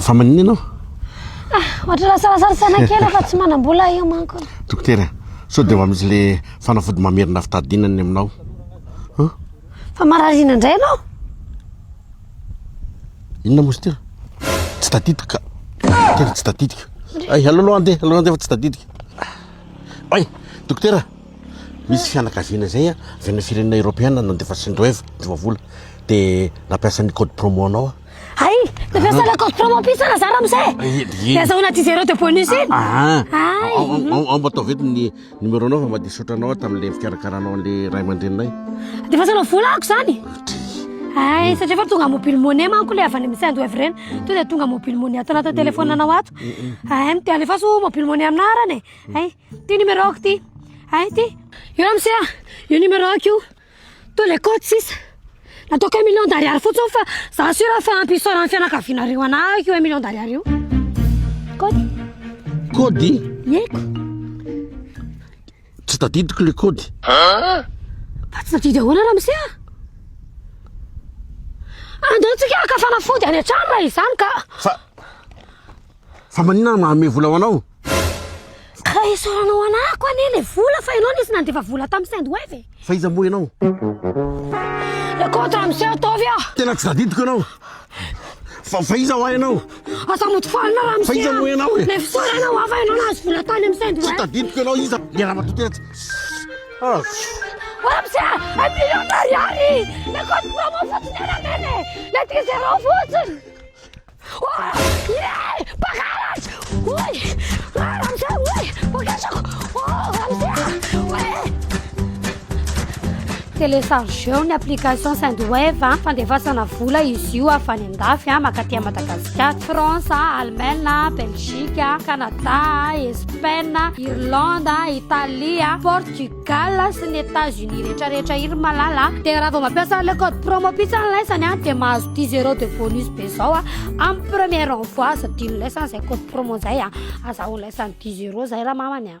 Fa maninona ianao? Ah, ohatra lasarasary saina kely aho fa tsy manam-bola io manko. Dokotera, sao dia mba misy le fanafody mamerina fitadiana ny aminao? Huh? Fa marariana indray ianao? Inona moa izy ity? Tsy tadidiko ka. Dokotera, tsy tadidiko. Ay, alao aloha andeha, alao andeha fa tsy tadidiko. Ay, dokotera, misy fianakaviana izay a, avy any firenena eoropeana nandefa sendwave, divavola, dia nampiasa ny code promo anao aho. Ay, te fiasa la cause promo pisa na zara mse. Dia zao na tizero de bonus in. Ah. Ay. Ao mba taovety ny numéro nao fa mba dia saotra anao tamin'ilay fikarakaranao an'ilay ray aman-dreninay. Dia fasana vola ako zany. Ay, satria fa tonga mobile money manko le avy any amin'ny sendo evrena. To dia tonga mobile money ato anaty téléphone anao ato. Ay, mty alefaso mobile money aminah arany. Ay, ty numéro ako ty. Ay, ty. Io amse, io numéro ako io. Toy le coach sisa. Nataoko un million d'ariary fotsiny fa za sûr fa ampy isaoran'ny fianakavianareo anah io un million d'ariary io. Kody. Kody? Yeko. Tsy tadidiko le kody. Ha? Fa tsy tadidy ahoana ramose a? Andao tsika ka fanafody any an-trano raha izany ka. Fa Fa maninona no manome vola ho anao? Ka esoranao anako anie le vola fa ianao nisy nandefa vola tamin'ny Sendwave e! Fa iza moa ianao? Écoute monsieur ataovy aho! Tena tsy tadidiko ianao! Fa fa iza hoa ianao? Aza modifoara anao ramose a! Fa iza moa ianao e? Le fisaorana hoa fa ianao nahazo vola tany amin'ny Sendwave! Tsy tadidiko ianao iza le ramatoa tena tsy Shhh! Ô ramose a! Un million d'ariary! Le code promo fotsiny ianao neny e! Le try zéro fotsiny! Telechargeo ny application Sendwave a, fandefasana vola izy io avy any an-dafy a, mankaty an'i Madagasikara. France a, Allemagne a, Belgique a, Canada a, Espagne a, Irlande a, Italie a, Portugal. Gal sy ny Etats Unis rehetra rehetra iny malala a! Dia raha vao mampiasa an'ilay code promo pizza ny lesany a dia mahazo dix euros de bonus be zao a amin'ny premier envoi aza adinon'ny lesany izay code promo izay a! Azahoan'ny lesany dix euros izay ramamany a!